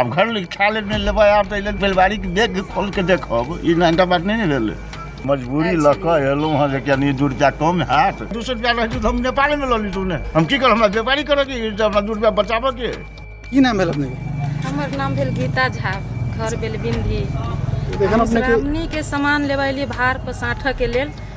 आब घर लग खा ले नहि लेबै आब तऽ लेल बेलबारीके बैग खोल कऽ देखब ई नहिटा बात नहि ने भेलै मजबूरी लऽ कऽ एलहुँ हँ जे कनि दू रुपैआ कम हैत दू सए रुपैआ रहतै तऽ हम नेपालेमे लऽ लितू ने हम की करब हमरा व्यापारी करऽ के अछि, हमरा दू रुपैआ बचाबऽ के की नाम भेल अपने हमर नाम भेल गीता झा घर भेल बिंदी एखन अपने के श्रावणी के सामान लेबै लिए भार पर साँठऽ के लेल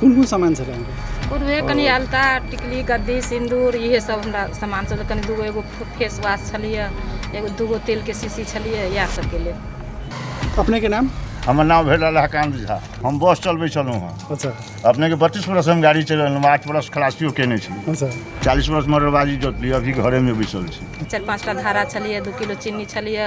कोन कोन सामान छलै अहाँके पूर्वे कनि अलता टिकली गद्दी सिन्दूर इहे सब हमरा सामान सब कनि दूगो एगो फेस वाश छलिए एगो दूगो तेलके शीशी छलिए इएह सबके लेल अपनेके नाम हमर नाम भेल अलहकान्त झा हम बस चलबै छलहुँ हँ अच्छा अपनेके बत्तीस बरस हम गाड़ी चलेलहुँ आठ बरस खलासियो केने छी अच्छा चालीस बरस मरबाजी जोतली अभी घरेमे बैसल छी चारि पाँचटा धारा छलिए दू किलो चीनी छलिए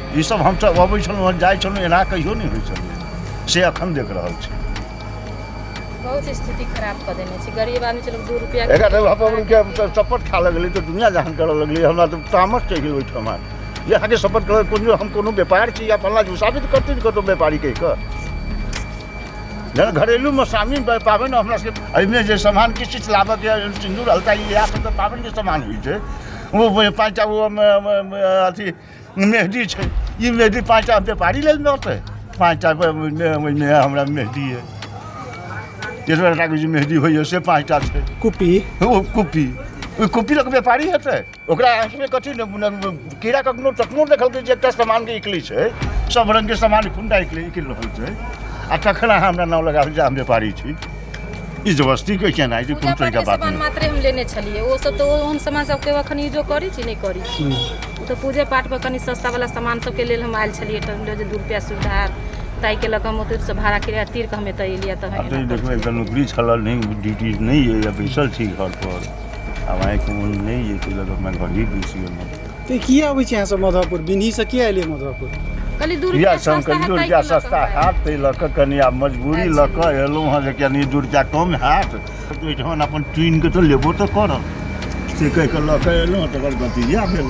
ई सब हम सब अबै छलहुँ हँ, जाइ छलहुँ एना कहियो नहि होइ छलै से अखन देख रहल छी बहुत स्थिति खराब कऽ देने छै गरीब आदमी चलो दू रुपया के- एकर अपन के सब- सपोर्ट खा लगलै तऽ दुनिया जहान करऽ लगलै हमरा तऽ तामस चढ़ि गेल ओहिठाम जे अहाँके सपोर्ट करऽ कोनो हम कोनो व्यापार छी या फल्ला जी साबित करतै ने कतहु व्यापारी कहि कऽ जेना घरेलूमे सामी पाबनि हमरा सबके एहिमे जे सामान किछु किछु लाबऽके यऽ, सिन्दूर हल्का इएह सब तऽ पाबनिके सामान होइ छै ओ पाँचटा ओ म- म- म- अथी मेहदी छै ई मेहदी पाँच टा व्यापारी लेल ने होतै पाँच टा ओहिमे हमरा मेहदी अइ तेसर टाके जे मेहदी होइए से पाँच टा छै कुप्पी ओ कुप्पी ओहि कुप्पी लऽ कऽ व्यापारी हेतै ओकरा आँखिमे कथी ने ने- ने- कीड़ा कखनो तखनो देखलकै जे एकटा सामानके इकली छै सब रङ्गके सामान खुन्दा इकली इकलि रहल छै आ तखन अहाँ हमरा नाम लगाबी जे हम व्यापारी छी ई जबरदस्ती के केना ई पूजा कोनो तरीका पाठके बात सामान नहि मात्रे हम लेने छलियै ओ सब तऽ ओहन सामान सबके अखन यूजो करै छी नहि करै छी ओ तऽ पूजे पाठ पर कनि सस्ता वाला सामान सबके लेल हम आयल छलियै तऽ हम जे दू रुपया सुविधा हैत ताहि के लऽ कऽ हम ओतय से भाड़ा किराया तीर कऽ हम एतय एलियै तऽ आब तऽ ई देखबै एकटा नौकरी छल नहि ड्यूटी नहि अइ या बैसल छी घर पर आब आइ कोनो नहि अइ ताहि लऽ कऽ हमरा घर ही बैस गेलहुँ तऽ की अबै छी अहाँ सब मधुपुर बिन्ही से किया एलियै मधुपुर कनी दूर इएह के सम सस्ता कनि दूर हैत जाए ताहि के लऽ कऽ सस्ता हमरा हैत ताहि लऽ कऽ कनि आब मजबूरी लऽ कऽ एलहुँ हँ जे कनि दूर जाए कम हैत तऽ ओहिठाम अपन ट्रेन के तऽ लेबो तऽ करब से कहि कऽ लऽ कऽ एलहुँ हँ तकर गति इएह भेल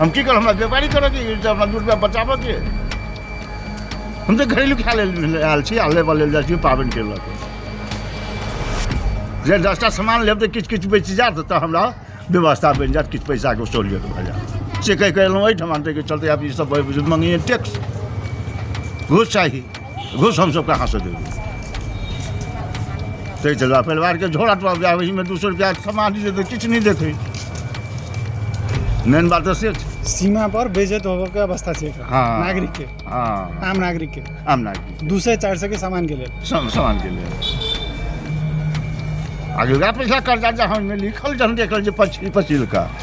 हम की करब हमरा व्यापारी करऽ के अछि, हमरा दू रुपया बचाबऽ के अछि। हम तऽ घरेलू खाय लेल आयल छी आ लेबऽ लेल जाइ छी पाबनि के लऽ कऽ जे दसटा सामान लेब तऽ किछु किछु बचि जायत तऽ हमरा व्यवस्था बनि जायत किछु पैसाके सहूलियत भऽ जायत से कहि कऽ एलहुँ एहिठाम ताहिके चलते आब ईसभ मङ्गैए टैक्स घूस चाही घुस हम सबके हाथ से देबै ताहि चलबा परिवारके झोरा टोरा जाए ओहिमे दू सौ रुपया समाज जे तऽ किछु नहि देखै मेन बात तऽ से छै सीमा पर बेइज्जत होबय के अवस्था छै एकरा। हाँ। नागरिक के हँ आम नागरिक के आम नागरिक दू सौ चार सौ के सामान के लेल सम समान के लेल आगे वएह पैसा कर्जा जहाँ ओहिमे लिखल जहन देखल जे पछिल पछिल का